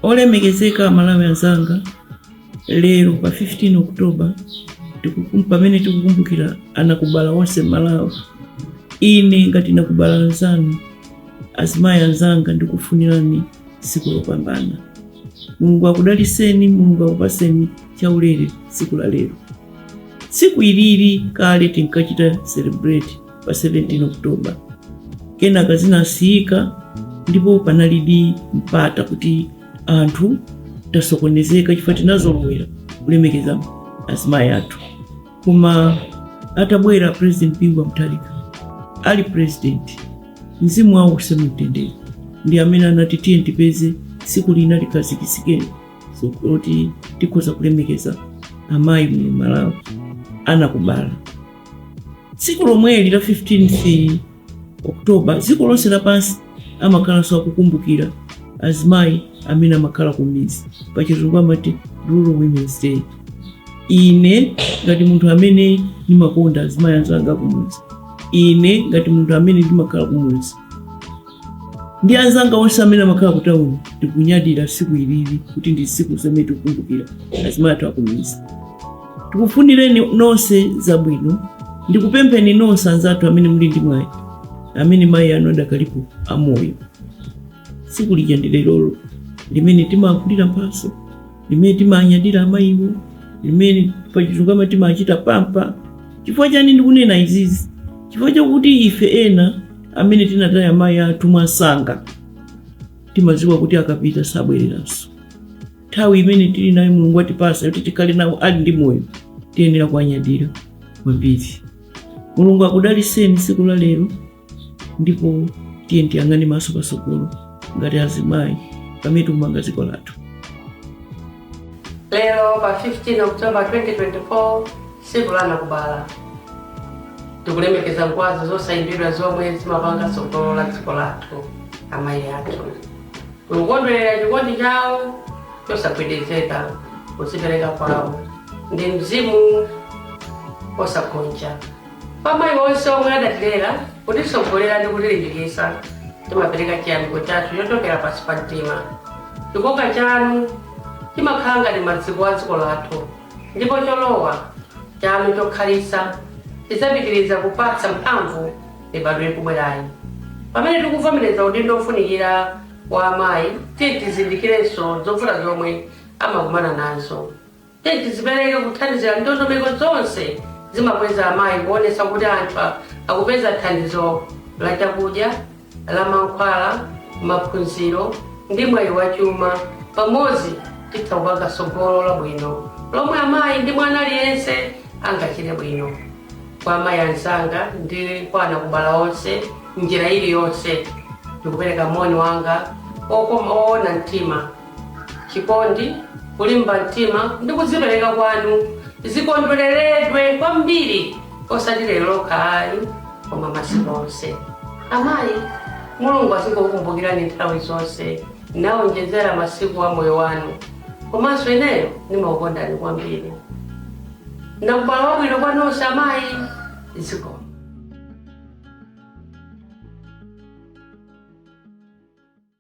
Olemekezeka aMalawi anzanga, lero pa 15 Oktoba pamene tikukumbukira anakubala onse m'Malawi, ine ngati nakubala nzanu, azimayi anzanga, ndikufunirani tsiku lopambana. Mulungu akudaliseni, Mulungu akupaseni chaulere tsiku la lero. Tsiku ilili kale tinkachita celebrate pa 17 oktoba kenaka zinasiyika ndipo panalidi mpata kuti anthu tasokonezeka chifukwa tinazolowera kulemekeza azimayi athu koma atabwera president bingu wa mutharika ali president mzimu wawo uuse mumtendere ndi amene anati tiyeni tipeze tsiku lina likhazikitsike loti tikhoza kulemekeza amayi muno malawi anakubala tsiku lomweli la 15th october dziko lonse lapansi amakhalanso akukumbukira azimayi amene amakhala kumidzi pachizungu amati rural women's day ine ngati munthu amene ndimakonda azimayi anzanga akumudzi ine ngati munthu amene ndimakhala kumudzi ndi anzanga onse amene amakhala kutawuni tikunyadira siku ilili kuti ndi siku lomwe tikukumbukira azimayi athu akumidzi tikufunireni nonse zabwino ndikupempheni nonse anzathu amene muli ndi mwayi amene mayi anu adakalipo amoyo siku lija ndi lerolo limene timagulira mphaso limene timanyadira amayiwo limene pachizungu timachita pamper chifukwa chani ndikunena izizi chifukwa chakuti ife ena amene tinataya amayi athu mwansanga timadziwa kuti akapita sabwereranso nthawi imene tili nayo mulungu watipasa kuti tikhale nawo ali ndi moyo tiyenera kuwanyadira kwambiri mulungu akudaliseni tsiku la lero ndipo tiyeni tiyang'ane maso patsogolo ngati azimayi pamene tikumanga dziko lathu lero pa 15 oktoba 2024 tsiku la anakubala tikulemekeza ngwazi zosayimbidwa zomwe zimapanga tsogolo la dziko lathu amayi athu tikukondwerera chikondi chawo chosagwedezeka kudzipereka kwawo ndi mzimu wosagonja Kwa amayi onse omwe adatilera, kutitsogolera ndi kutilimbikitsa, timapereka chiyamiko chathu chochokera pansi pa mtima. Chikoka chanu chimakhala ngati maziko a dziko lathu, ndipo cholowa chanu chokhalitsa chidzapitiriza kupatsa mphamvu mibadwo ikubwerayi. Pamene tikuvomereza udindo wofunikira wa amayi, tiyeni tizindikirenso zovuta zomwe amakumana nazo. Tiyeni tizipereke kuthandizira ndondomeko zonse zimakweza amayi kuonetsa kuti anthu akupeza thandizo la chakudya, la mankhwala, maphunziro ndi mwayi wa chuma pamodzi titha kupanga tsogolo labwino lomwe amayi ndi mwana aliyense angachite bwino kwa amayi anzanga ndi kwa anakubala onse m'njira iliyonse ndikupereka moni wanga oona mtima. Chikondi, kulimba mtima, ndi kudzipereka kwanu zikondwereredwe kwambiri osati lero lokha ayi, koma masiku onse. Amayi, Mulungu azikukumbukirani nthawi zonse nawonjezera masiku a moyo wanu. Komanso ineyo ndimakukondani kwambiri. Nakubala wabwino kwa nonse amayi, zikomo.